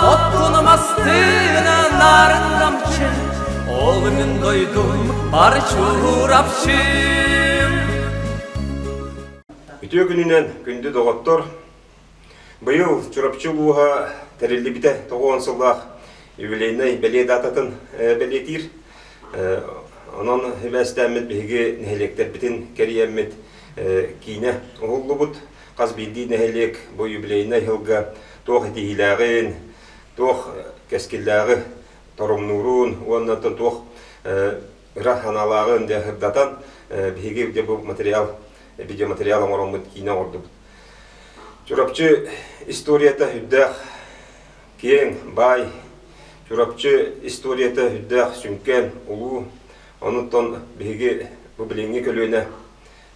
Оккунум астына нарын намчын, Олымын дойдум бар чурапчым. Үтүө күнүнэн күндү доҕоттор. Быйыл Чурапчы улууһа тэриллибитэ тоҕуон сыллаах юбилейнай бэлиэ даататын э, бэлиэтиир. Э, онон үбээстээммит биһиги нэһилиэктэрбитин кэрийэммит э, киинэ уһуллубут. хас биирдии нэһилиэк бу юбилейнай сылга туох этиһиилээҕин, туох кэскиллээҕи торумнуурун уонна туох ыра санаалааҕын дьэ сырдатан, биһиги дьэ бу материал, видеоматериал оҥороммут киинэ оҥордубут. Чурапчы историята үрдээх киэҥ, баай. Чурапчы историята үрдээх сүҥкэн, улуу. Онуттан биһиги бу билиҥҥи көлүөнэ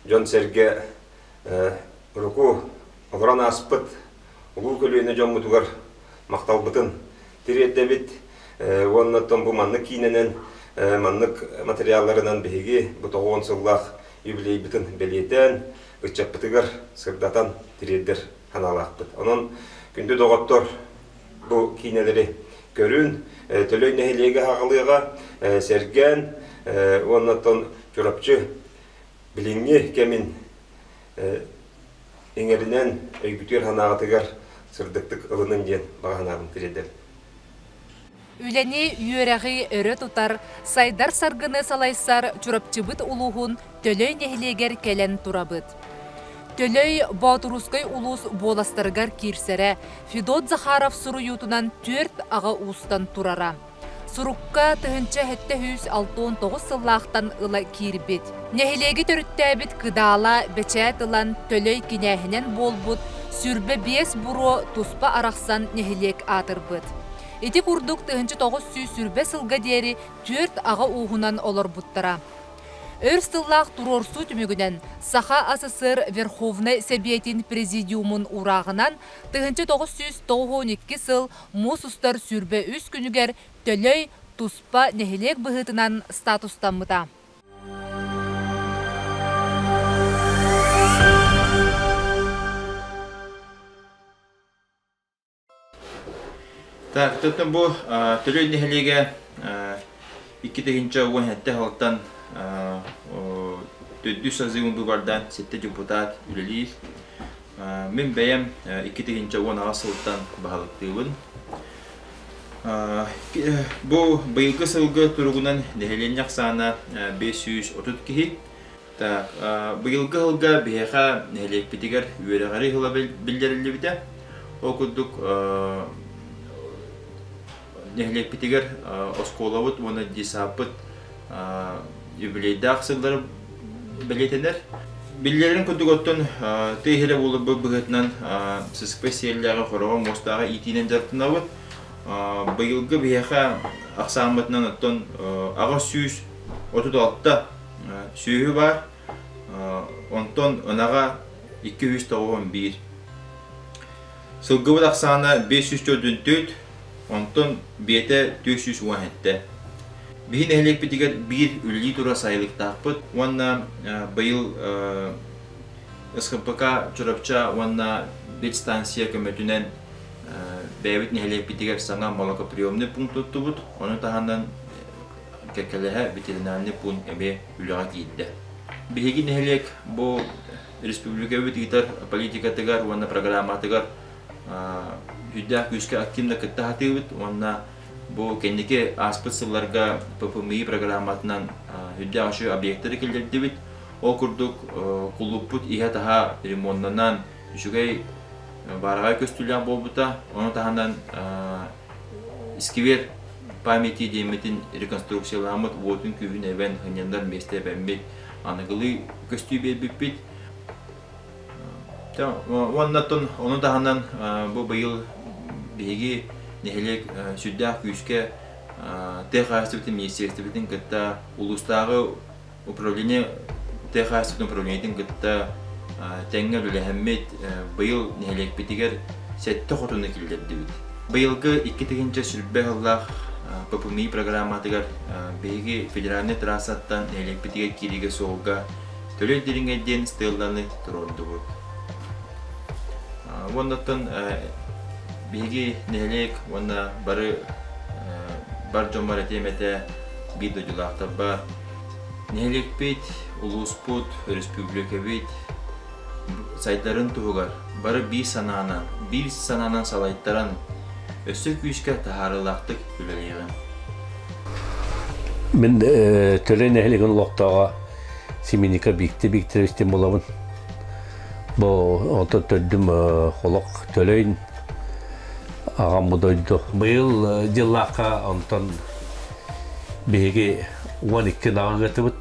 дьон-сэргэ Руку олорон ааспыт улуу көлүөнэ дьоммутугар махталбытын тириэрдэбит уонна бу маннык киинэнэн маннык материалларынан биһиги бу тоҕуон сыллаах юбилейбытын бэлиэтээн ыччаппытыгар сырдатан тириэрдэр санаалаахпыт. Онон күндү доҕоттор бу киинэлэри көрүн, Төлөй нэһилиэгэ аҕалыаҕа, сэргээн уонна Чурапчы Билиҥҥи кэмин иҥэринэн өйбүтүгэр санааҕытыгар сырдыктык ылыныҥ диэн баҕа санаабын тириэрдэбин. Үлэни, үөрэҕи өрө тутар, сайдар саргыны салайсар Чурапчыбыт улууһун Төлөй нэһилиэгэр кэлэн турабыт. Төлөй Боотурускай улуус буоластарыгар киирсэрэ Федот Захаров суруйуутунан түөрт аҕа уустан турара. Сурукка тыһыынча сэттэ сүүс алта уон тоҕус сыллаахтан ыла киирбит. Нэһилиэги төрүттээбит кыдаала бэчээт ылан, төлөй кинээһинэн буолбут сүүрбэ биэс буруо туспа арахсан нэһилиэк аатырбыт. Ити курдук тыһыынча тоҕус сүүс сүүрбэ сылга диэри түөрт аҕа ууһунан олорбуттара. Өр сыллаах туруорсуу түмүгүнэн Саха СССР Верховнай Сэбиэтин Президиумун урааҕынан тыһыынча тоҕус сүүс тоҕус уон икки сыл Муус устар сүүрбэ үс күнүгэр Төлөй туспа нэһилиэк быһыытынан статустаммыта. Так, тотно бу Төлөй нэһилиэгэ икки тыһынча уон хәтте халтан төрдүс азы бу бардан сетте депутат үлэлиир. Мин бэйэм икки тыһыынча уон аҕыс сылтан баһылыктыыбын. Бу быйылгы сылгы туругунан нэһилиэнньэ ахсаана бес сүүс отут киһи. Так, быйылгы сылга биһиэхэ нэһилиэкпитигэр үөрэҕи ыһыла биллэриллибитэ. Ол курдук нэһилиэкпитигэр оскуолабыт уонна ДИСАП-пыт юбилейдаах сыллары бэлиэтэнэр. Биллэрин курдук оттон тыа иһирэ буоларбыт быһыытынан сысыпай сиэллээҕи хороҕо муостааҕы иитиинэн дьарыктанабыт. Быйылгы биһиэхэ ахсааммытынан оттон аҕыс сүүс отут алта сүөһү баар, онтон ынаҕа икки үс тоҕус он биир. Сылгыбыт ахсаана биэс сүүс төрдүн төрт, онтон биэтэ түөрт сүүс уон сэттэ. Биһи нэһилиэкпитигэр биир үлэлии турар сайылыктаахпыт уонна быйыл СХПК Чурапча уонна ветстанция көмөтүнэн бэйэбит нэһилиэкпитигэр саҥа молокоприемный пункт туттубут. Ону таһынан кэккэлэһэ ветеринарный пункт эмиэ үлэҕэ киирдэ. Биһиги нэһилиэк бу республикабыт ыытар политикатыгар уонна программатыгар үрдээх күүскэ активно кытта сатыыбыт уонна бу кэнники ааспыт сылларга ППМИ программатынан үрдээх үчүгэй объектары киллэрдибит ол курдук кулууппут иһэ-таһа ремоннанан үчүгэй баараҕай көстүүлээх буолбута ону таһынан искивер памяти диэммитин реконструкцияламмыт уотун күүһүн эбэн сынньанар миэстэ эбэммит аныгылыы көстүү биэрбиппит. Уонна тун ону таһынан бу быйыл биһиги нэһилиэк сүрдээх күүскэ тыа хаһаайыстыбатын министиэристибэтин кытта улуустааҕы управление тыа хаһаайыстыбатын управлениетын кытта тэҥҥэр үлэһэммит быйыл нэһилиэкпитигэр сэттэ хотуну киллэрдибит. Быйылгы икки тыһыынча сүрбэ сыллаах ППМИ программатыгар биһиги федеральнай трассаттан нэһилиэкпитигэр киириигэ суолга Төлөй Дириҥэй диэн стелланы туруордубут. Уонна оттон биһиги нэһилиэк уонна бары бар дьоммор этиэм этэ биир дойдулаахтарба нэһилиэкпит, улууспут, өрөспүүбүлүкэбит сайдарын туһугар бары биир санаанан, биир санаанан салайтаран, өссө күүскэ таһаарыылаахтык үлэлиэҕиҥ. Мин э, Төлөй нэһилигин олохтооҕо Семеника Бикти Викторовичтин булабын. Бу онтон төрдүм э, холох Төлөйн аҕам бу дойду. Быйыл э, дьыллаахха онтон биһиги 12 ааҕытыбыт.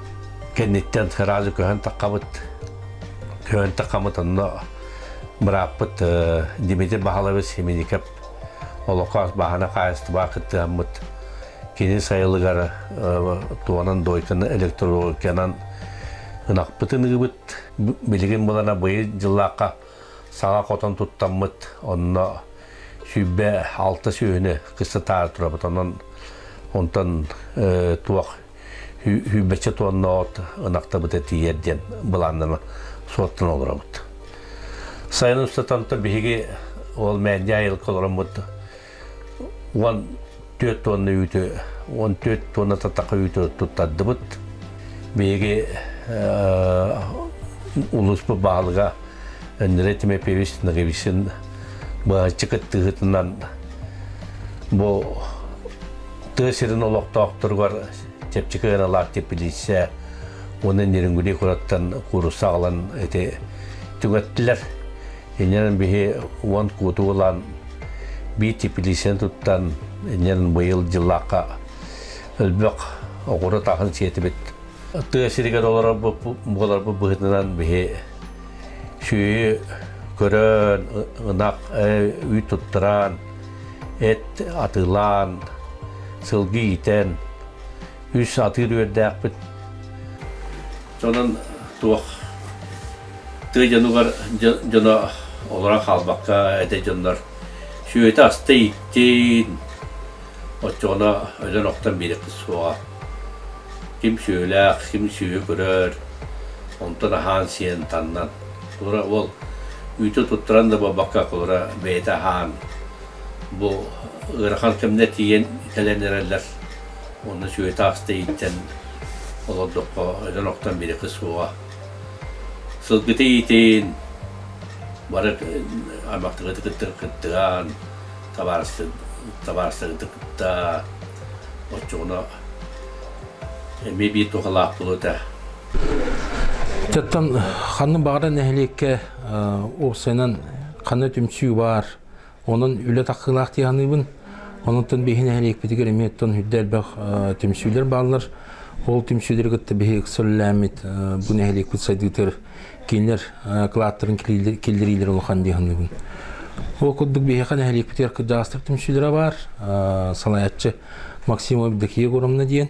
кэнниттэн сразу көһөн таххабыт көһөн таххамыт онно бырааппыт Дмитрий Бахалович Семеников олокоос бааһына хаайыстыбаҕа кыттыһаммыт кини сайылыгар туонан дойканы электрологиянан ынахпытын ыыбыт билигин булана быйыл дьыллаахха саҥа хотон туттаммыт онно сүүрбэ алта сүөһүнү кыстатаары турабыт онон онтон туох Үүбэччэ туонноот ынахтабыта тиийэр диэн былааннанан суоттан олоробут. Сайын устатанта биһиги ол мээндэ айылка олороммут уон түөрт туонна үүтү уон түөрт туонна татаха үүтү туттардыбыт. Биһиги улууспут баһылыга Ндерей Тимофеевич Наговичин быһаччы кыттыһытынан бу тыа сирин олохтоохторугар чэпчэки ыаралаах теплиция уонна Нерюнгри кураттан куурусса аҕалан ити түҥэттилэр. Иннинэн биһи уон кууту ылаан биир теплицияны туттан иннинэн быйыл дьыллаахха өлбөх оҕура таһын сиэтибит. Тыа сиригэр олорорбут быһытынан биһи сүөһү көрөн, ынах, үй туттараан, эт атыылаан, сылгы иитэн, үс атыыр үөрдээхпит. Онон туох тыа дьонугар дьоно олоро хаалбакка этэй дьоннор сүөтэ аста иттин оччоҕуна өлөн охтон биэрэхпит суоҕа ким сүөлээх ким сүөһү көрөр онтон аһаан сиэн таннан Кулура уол үүтү туттаран да буолбакка, кулура бэйэтэ аһаан, бу ыарахан кэмнэ тиийэн кэлэн эрэллэр. Онно сүөһү таас тэйиттэн олордоххо өлөн-охтон бирикэ суоҕа. Сылгыты иитин, бары аймактыгыты кыттыр кыттыгаан, табаарыстыгыты кытта, оччоҕуна эмиэ биир тухалаах буолуо этэ. Чаттан ханна баҕара нэһилиэккэ уопсайынан ханна түмсүү баар, онон үлэ тахсыылаах дии саныыбын. Онуттан биһи нэһилиэкпитигэр эмиэ оттон үрдэ элбэх түмсүүлэр бааллар. Ол түмсүүлэри кытта биһи ыкса үлэлээммит бу нэһилиэкпит сайдыытыгар кинилэр кылааттарын киллэриилэрэ улахан дии саныыбын. Ол курдук биһиэхэ нэһилиэкпитигэр кырдьаҕастар түмсүүлэрэ баар. Салайааччы Максим Евдокия Громна диэн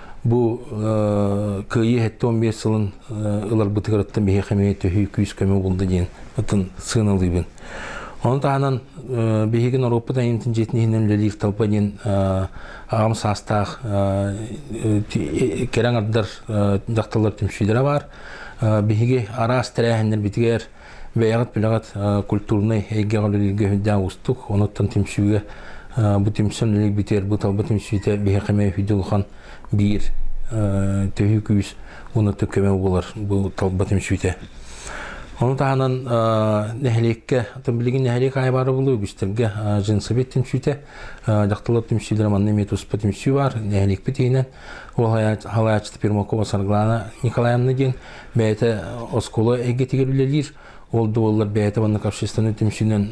Бу кыайыы 75 сылын ыларбытыгарыттан биһиэхэ эмиэ төһүү күүс-көмө булда диэн ытын сыаналыыбын. Ону таһынан биһиги норуоппут айымтын дьиэтин иһинэн үлэлиир талба диэн аҕам саастаах кэрэ аҥардар дьахталлар түмсүүлэрэ баар. Биһиги араас тэрээһиннэрбитигэр бэйэҕит билэҕит культурнай эйгэҕэ үлэлииргэ үрдээн уустук онуттан түмсүүгэ бу түмсэн үлэ битэр бу талба түмсүүтэ биһиэхэ үһүдү улахан биир төһүү күүс уонна көмө болар бу талба түмсүүтэ Ону таһынан нэһилиекке, билигин нэһилиек айы бары булу үгүстэрге жинсовет түмсүүтэ, жақтылар түмсүүлер манна имеет успа түмсүү бар, нэһилиекпит иһинен ол халаачыта Пермакова Сарглана Николаевна диэн бэйэтэ оскуола эйгэтигэр үлэлиир ол да буоллар бэйэтэ уонна общественный түмсүүнэн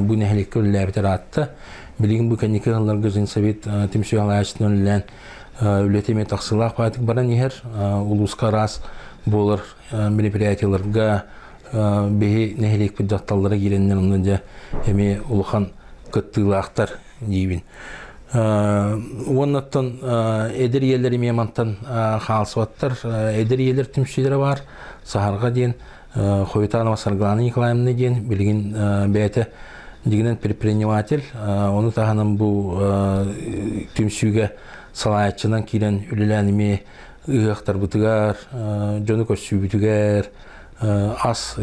бу нэһилиэккэ үлэлээбит ыраатта билигин бу кэнники сылларга Женсовет түмсүү аҕаачытынан үлэлээн үлэтэ эмиэ тахсыылаах баатык баран иһэр улууска араас буолар мероприятияларга биһи нэһилиэкпит дьахталлара киирэннэр онно дьэ эмиэ улахан кыттыылаахтар диибин уоннаттан эдэр ийэлэр эмиэ мантан хаалсыбаттар эдэр ийэлэр түмсүүлэрэ баар саһарга диэн Ховитанова Сарглана Николаевна диэн билигин бэйэтэ дигинен предприниматель ону таһынан бу түмсүүгэ салааччынан киирэн үлэлээн эмиэ ыһыахтарбытыгар дьону көрсүүбүтүгэр ас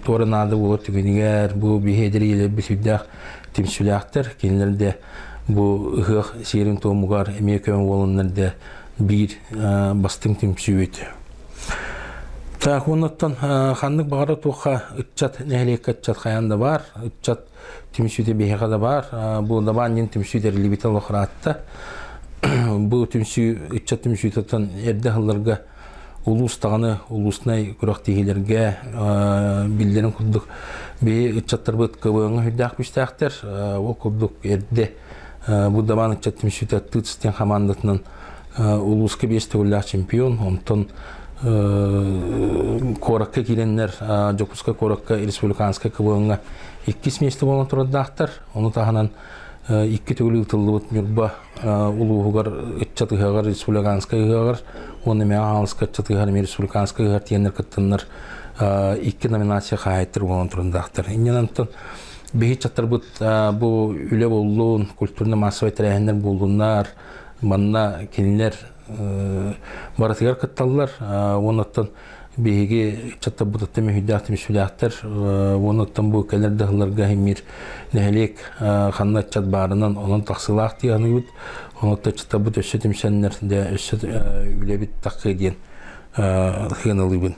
туора наада буолар түгэнигэр бу биһиэдэр ийэлэрбит сүрдээх түмсүүлээхтэр кинилэр да бу ыһыах сиэрин туомугар эмиэ көмө буоланнар да биир бастыҥ түмсүүбүт так оннуттан ханнык баҕара туохха ыччат нэһилиэккэ ыччат хайаан да баар ыччат түмсүүтэ биһиэхэ да баар бу дабаан дьин түмсүү тэриллибитэ олохраатта бу түмсүү ыччат түмсүүтүттэн эрдэ улуус даҕаны улууснай күрэхтиһиилэргэ биллэрин курдук бии ыччаттарбыт кыбыаҥҥа үрдээх бүстээхтэр ол курдук эрдэ бу дабаан ыччат түмсүүтэ тыцтин хамаандатынан улууска биэс төгүллээх чемпион онтон куоракка киирэннэр дьокуускай куоракка республиканскай кыбыаҥҥа иккис миэстэ буолан турардаахтар ону таһынан икки төгүл ыытыллыбыт ньурба улууһугар ыччат ыһыаҕар республиканскай ыһыаҕар уонна Мэҥэ Хаҥаласка ыччат ыһыаҕар эмиэ республиканскай ыһыаҕар тиэннэр кыттаннар икки номинация хаһаайыттар буолан турундаахтар. Иннинэн оттон биһи ыччаттарбыт бу үлэ буллун, культурно-массовай тэрээһиннэр буоллуннар, манна кинилэр барытыгар кытталлар. Уонна оттон биһиги ыччаттарбытыттан мүһүйдээх түмсүүлээхтэр уонуттан бу кэлэр дыһылларга химир нэһилиэк ханна ыччат баарынан онон тахсылаах тианыыбыт онутта ыччаттарбыт өссө түмсэннэр да өссө үлэбит такы диэн хыаналыыбын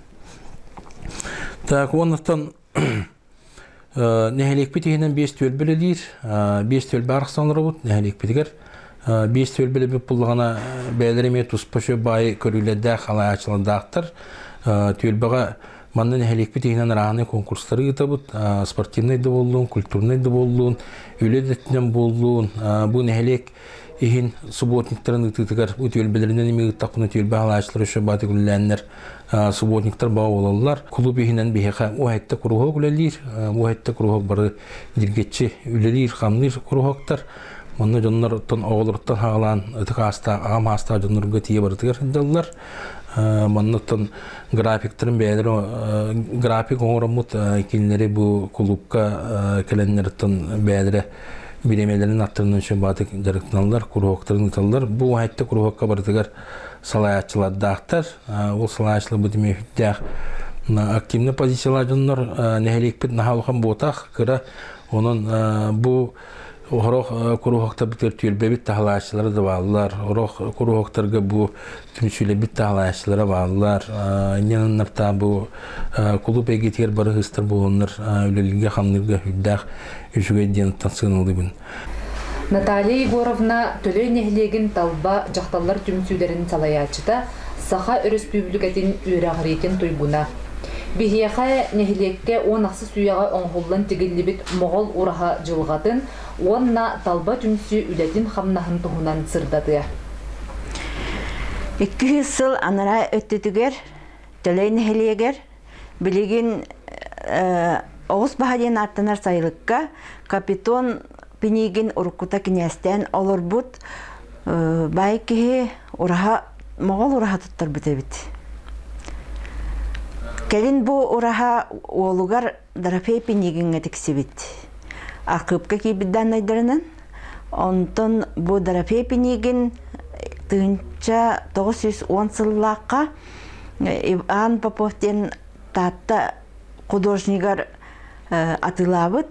так уонуттан Нэһилиэкпит иһинэн биэс түөлбэ үлэлиир. Биэс түөлбэ арахсан олоробут. Нэһилиэкпитигэр биэс түөлбэ үлэлэбит буллаҕына бэйэлэрэ эмиэ туспа үчүгэй баайы көрүүлэрдээх, халаачылардаахтар. Түөлбэҕэ манна нэһилиэкпит иһинэн рааный конкурстары ыытабыт. Спортивнай да буоллун, культурнай да буоллун, үлэ өттүнэн буоллун. Бу нэһилиэк иһин субботниктарын ыытыытыгар бу түөлбэлэринэн эмиэ ыыттахпына түөлбэ халаачылара үчүгэй баайы көрүүлээннэр субботниктар баҕа буолаллар. Кулуп иһинэн биһиэхэ у әттэ куруһуок үлэлиир. У әттэ куруһуок бары диргэччи үлэлиир, хамныыр куруһуоктар. Манна дьоннортон оҕолоруттан хаалаан ытык аастаах, аҕам аастаах дьоннорго тиийэ барытыгар сылдьаллар. Манныттан графиктарын бэйэлэрэ график оҥороммут кинилэри бу кулуупка кэлэннэриттэн бэйэлэрэ бириэмэлэрин аттарынан үчүн баатык дьарыктаналлар, куруһуоктарын ыыталлар. Бу айта куруһуокка барытыгар салайааччылардаахтар. Ол салайааччыларбыт имеефиттээх активный позициялаах дьоннор нэһилиэкпит наһаа улахан буотах кыра онон бу Орох куруһуоктарбытыгар түөлбэбит таһалааччылара да бааллар. Орох куруһуоктарга бу түмсүүлэбит таһалааччылара бааллар. Инниннапта бу кулуп эгитигэр бары хыстар буоланнар үлэлииргэ хамныырга үрдээх үчүгэй диэн сыаналыыбын. Наталья Егоровна Төлөй нэһилиэгин талба дьахталлар түмсүүлэрин салайааччыта, Саха Өрөспүүбүлүкэтин үөрэҕириитин туйгуна. Биһиэхэ нэһилиэккэ уон ахсыс үйэҕэ оҥоһуллан тигиллибит Моҕол ураһа дьылҕатын уонна талба түмсүү үлэтин-хамнаһын туһунан сырдатыа. Икки сыл анараа өттүтүгэр Төлөй нэһилиэгэр Билигин оҕус баһа диэн ааттанар сайылыкка Капитон Пинигин уруккута кинээстээн олорбут бай киһи ураһа моҕол ураһа туттарбыт эбит. Кэлин бу ураһа уолугар Дорофей Пинигиҥҥэ тиксибит. Акыыпка киирбит дааннайдарынан. Онтон бу Дорофей Пинигин тыһынча тоҕус сүүс он сыллаахха Иван Попов диэн Таатта художнигар атыылаабыт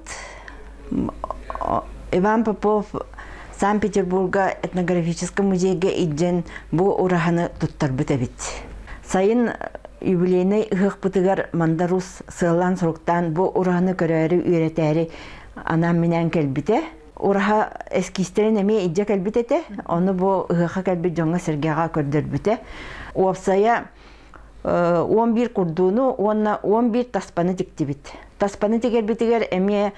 Иван Попов Санкт-Петербурга этнографическай музейга илдьэн бу ураһаны туттарбыт эбит. Сайын юбилейнай ыһыахпытыгар мандарус сыаллаан-соруктаан бу ураһаны көрөөрү үөрэтээри анаан-минээн кэлбитэ. Ураһа эскиистэрин эмиэ илдьэ кэлбит этэ. Ону бу ыһыахха кэлбит дьоҥҥо сэргэҕэ көрдөрбүтэ. Уопсайа он биир курдууну уонна он биир таспаны тиктибит. Таспаны тигэрбитигэр эмиэ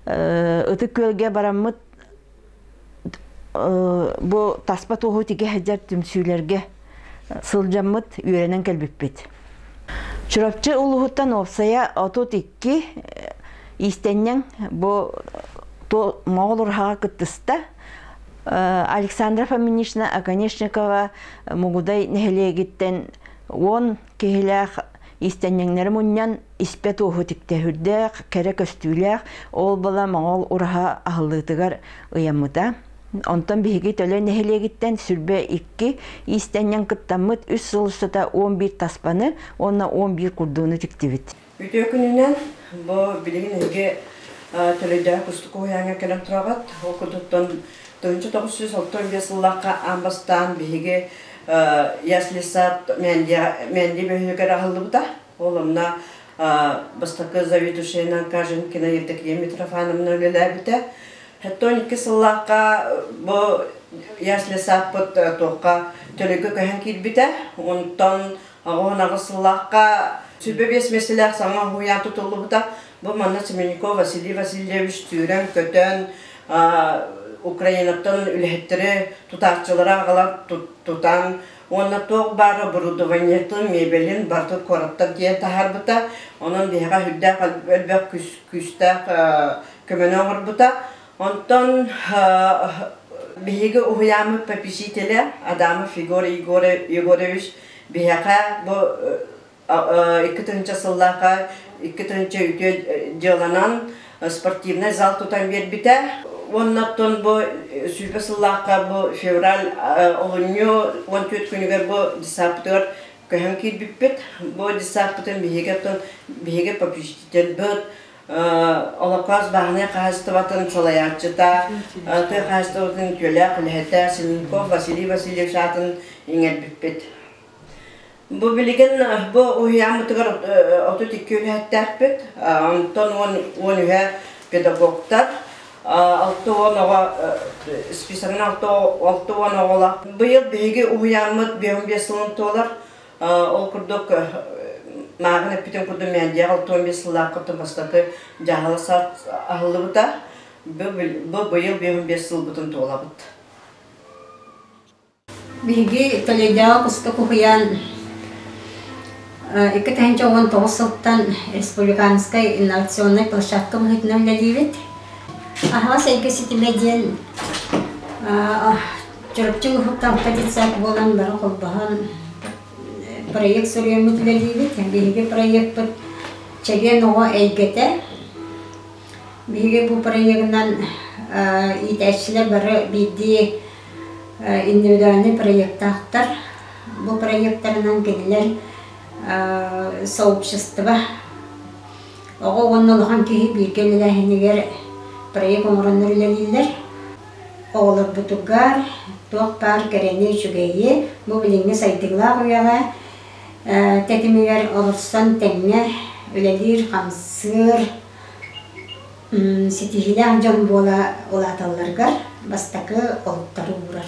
ытык күөлгэ бараммыт бу таспа туоһу тигэ сылдьар түмсүүлэргэ сылдьаммыт, үөрэнэн кэлбиппит. Чурапчы улуһуттан уопсайа отут икки иистэнньэҥ бу моҕол ураһаҕа кыттыста. Александра Фоминична Оконешникова Мугудай нэһилиэгиттэн уон Киһилээх иистэнньэҥнэри мунньан, испэт-уоһу тиктэһүүрдээх, кэрэ көстүүлээх оол-бала моҥол ураһа аһыллыытыгар ыйаммыта. Онтон биһиги Төлө нэһилиэгиттэн сүлбэ икки иистэнньэҥ кыттаммыт үс сыл устата он биир таспаны уонна он биир курдууну тиктибит. Үтүө күнүнэн бу билигин эһиги төлөйдөҕө кустук уһуйааҥҥа кэлэн тураҕыт. Ол курдуктан 1962 сыллахха аан бастаан биһиги Яслисад Мэнди бөһүнүгэр аһыллыбыта. Ол онно бастакы заведующайынан Каженкина Евдокия Митрофановна үлэлээбитэ. Хаттан икки сыллаахха бу Яслисаппыт туохха төлөгө көһөн киирбитэ. Онтон Оҕуһунаҕы сыллаахха сүбэ биэс миэстэлээх саҥа уһуйаан тутуллубута. Бу манна Семенников Василий Васильевич сүүрэн-көтөн, Украинаттан үлэһиттэри, тутааччылары аҕала тутан уонна туох баар оборудованиетын, мебелин барытын куораттан тиийэн таһаарбыта. Онон биһиэхэ үрдээх элбэх күүстээх көмөнү оҥорбута. Онтон биһиги уһуйааммыт попечителя Адамов Егор Егорович биһиэхэ бу икки тыһыынча сыллаахха икки тыһыынча үтүө дьыаланан спортивнай зал тутан биэрбитэ уоннаттан бу сүүпэ сыллаахха бу февраль олунньу он түөрт күнүгэр бу десаптыгар көһөн киирбиппит бу десаппытын биһиги биһиги попечительбыт Олоппоос бааһынай хаһаайыстыбатын салайааччыта, тыа хаһаайыстыбатын күөлээх үлэһитэ Сененков Василий Васильевич аатын иҥэрбиппит. Бу билигин бу уһуйааммытыгар отут икки үлэһиттээхпит, онтон уон уон үһэ педагогтар, алта уон оҕо списогынан алта уон оҕолоох. Быйыл биһиги уһуйааммыт биэс он биэс сылын туолар. Ол курдук мааҕын эппитин курдук Мээндиэх алтыан биэс сыллаах кытын бастакы дьаһала саат аһыллыбыта. Бу быйыл биэһун биэс сылбытын туолабыт. Биһиги Төлөйдөөҕү куска куһуйаан икки тыһыынча уон тоҕус сылтан республиканскай инновационнай площадка быһыытынан үлэлиибит. Аһаҕас эйгэ ситимэ диэн Чурапчы Уһукталга детсад буолан бары холбоһон проект суруйаммыт үлэлиибит. Биһиги проекпыт чэгиэн оҕо эйгэтэ. Биһиги бу проегынан иитээччилэр бары биирдии индивидуальнай проектаахтар. Бу проектарынан кинилэр сообщество, оҕо уонна улахан киһи бииргэ үлэлээһинигэр проект оҥороннор үлэлииллэр. Оҕолорбутугар туох баар кэрэни, үчүгэйи бу билиҥҥи сайдыылаах үйэҕэ тэтимигэр олорсон тэҥҥэ үлэлиир-хамсыыр ситиһиилээх дьон буола улааталларыгар бастакы олуктары уурар.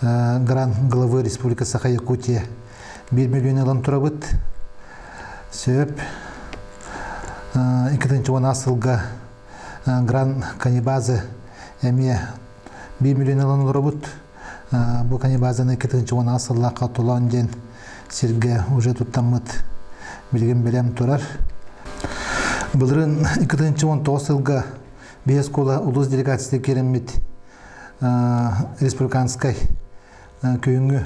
грант главы республика Саха Якутия 1 миллион ылан турабыт сөп иккитинчи сылга гран каннибазы эмиэ 1 миллион ылан олоробут бу каннибазаны иккитинчи уонаа сыллаахха толоон диэн сиргэ уже туттаммыт билигин билем турар былырын иккитинчи он тоҕус сылга биһи оскуола улус делегация кииреммит республиканскай күһүҥҥү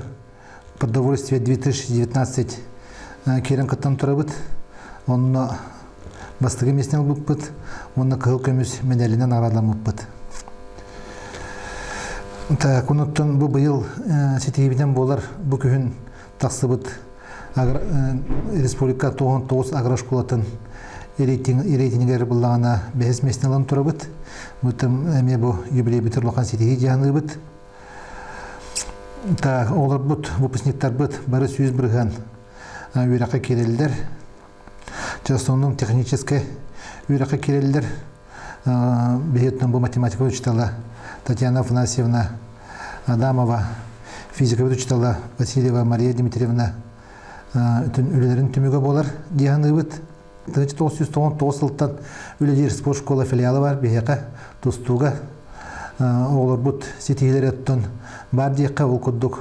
продовольствие 2019 киирэн кыттан турабыт онно бастакы миэстэни ылбыппыт уонна кыһыл көмүс медалинэн арааламмыппыт так онуттан бу быйыл ситиһиибитин буолар бу күһүн тахсыбыт республика тоҕон тоҕус агрошколатын рейтингер быллаҕана бэһис мессин ылан турабыт бытым эмиэ бу юбилей бүтэр улахан ситиһии дьаһаныыбыт та олорбут выпускниктарбыт бары сүүс бырыһан үөрэххэ киирэллэр частоннун техническай үөрэххэ киирэллэр биһиттэн бу математика учителя Татьяна Афанасьевна Адамова, физикабыт учителя Васильева Мария Дмитриевна бүтүн үлэлэрин түмүгэ буолар дианыыбыт. 1999 сылтан үлэлиир спорт школа филиалы бар биһиэхэ тустууга оҕолорбут ситиһилэри оттон бар диэххэ ол курдук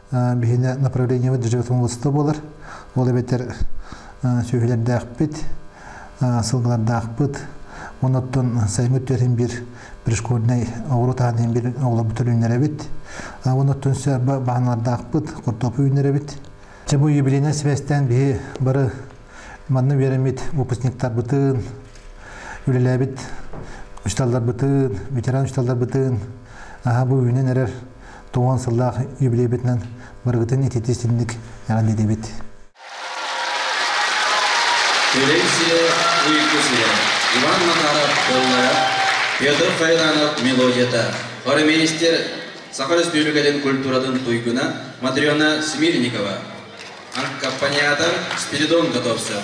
Биһинэ направлениеба дьыдьатым уласта болар. Ол эбэтэр сүһүлэрдээхпит, сылгылардаахпыт, онуттан сайыҥҥы түөрин бир пришкольнай оҕурут аанын бир оҕолорбут өлүннэрэбит. Онуттан сөрбө баһаналардаахпыт, куртопу үүннэрэбит. Чэ бу юбилейнай сибэстээн биһи бары манны үөрэммит выпускниктарбытын, үлэлээбит учууталларбытын, ветеран учууталларбытын, аха бу үүнэн эрэр Туон сыллаах юбилейбитинэн барыгытын ититии-синник эҕэрдэлиибит. Силэнсия выйкусуна Иван Макаров толлара, Петр Файранов мелодията, хормейстер Саха Республикатын культуратын туйгуна Матрена Смирникова, аккомпаниатор Спиридон Котовцев.